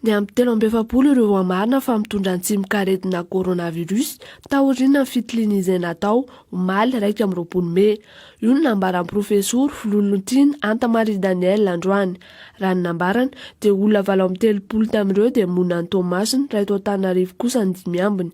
Ny amin'ny telo amby efapolo ireo hamarina fa mitondra ny tsimokaretina coronavirus taoriana ny fitiliana izay natao omaly iraika amby roapolo mey. Io no nambaran'ny profesoro Filolontiny Anta Marie Daniel androany. Raha ny nambarany, dia olona valo amby telopolo tamin'ireo dia monina any Toamasina, raha eto Antananarivo kosa ny dimy ambiny.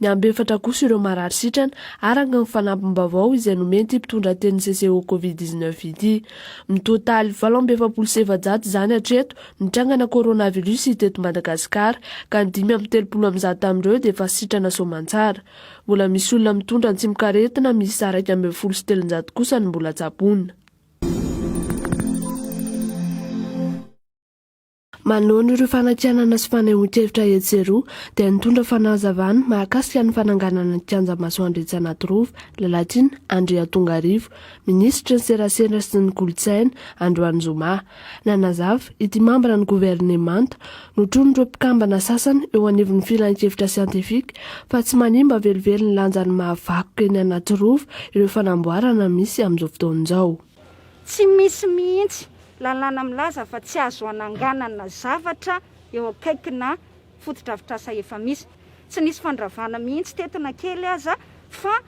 Ny ambefatra kosa ireo marary sitrana, araka ny fanampim-baovao izay nomen'ity mpitondra tenin'ny CCO Covid dix neuf ity. Mitotaly valo amby efapolo sy efajato izany hatreto ny trangana coronavirus teto Madagasikara, ka ny dimy amby telopolo amin'ny zato tamin'ireo dia efa sitrana soamantsara. Mbola misy olona mitondra antsimokaretina miisa iraika ambin'ny folo sy telonjato kosa no mbola tsaboina. Manono ireo fanakianana sy fanehoan-kevitra etsy roa dia nitondra fanazavana mahakasika ny fananganana ny kianja masoandro etsy Anatirova, Lalatiana, Andriantongarivo, minisitry ny serasera sy ny kolontsaina, androany zoma. Nanazava, ity mambran'ny governemanta, notronin'ireo mpikambana sasany eo anivon'ny filankevitra siantifika, fa tsy manimba velively ny lanjan'ny mahavakoka eny Anatirova ireo fanamboarana misy amin'izao fotoana izao. Tsy misy mihitsy lalàna milaza fa tsy azo hananganana zavatra eo akaikina fotodrafitrasa efa misy. Tsy nisy fandravana mihitsy teto na kely aza fa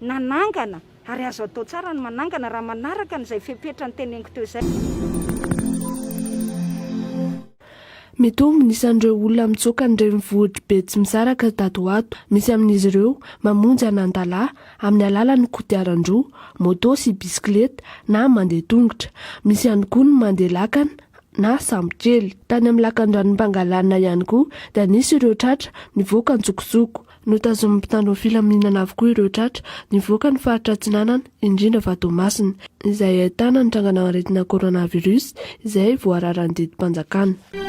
nanangana Ary azo atao tsara ny manangana raha manaraka an'izay fepetra noteneniko teo izay. Mitombo ny isan'ireo olona mitsoaka ny renivohitr'i Betsimisaraka tato ho ato. Misy amin'izy ireo mamonjy an'Antalaha amin'ny alalan'ny kodiaran-droa, moto sy bisikileta na mandeha tongotra. Misy ihany koa ny mandeha lakana na sambo kely. Tany amin'ny lakandranom-pangalana ihany koa dia nisy ireo tratra nivoaka an-tsokosoko. Notazomin'ny mpitandro filaminana avokoa ireo tratra nivoaka ny faritra Atsinanana, indrindra fa Toamasina, izay ahitana ny trangana aretina coronavirus izay voararan'ny didim-panjakana.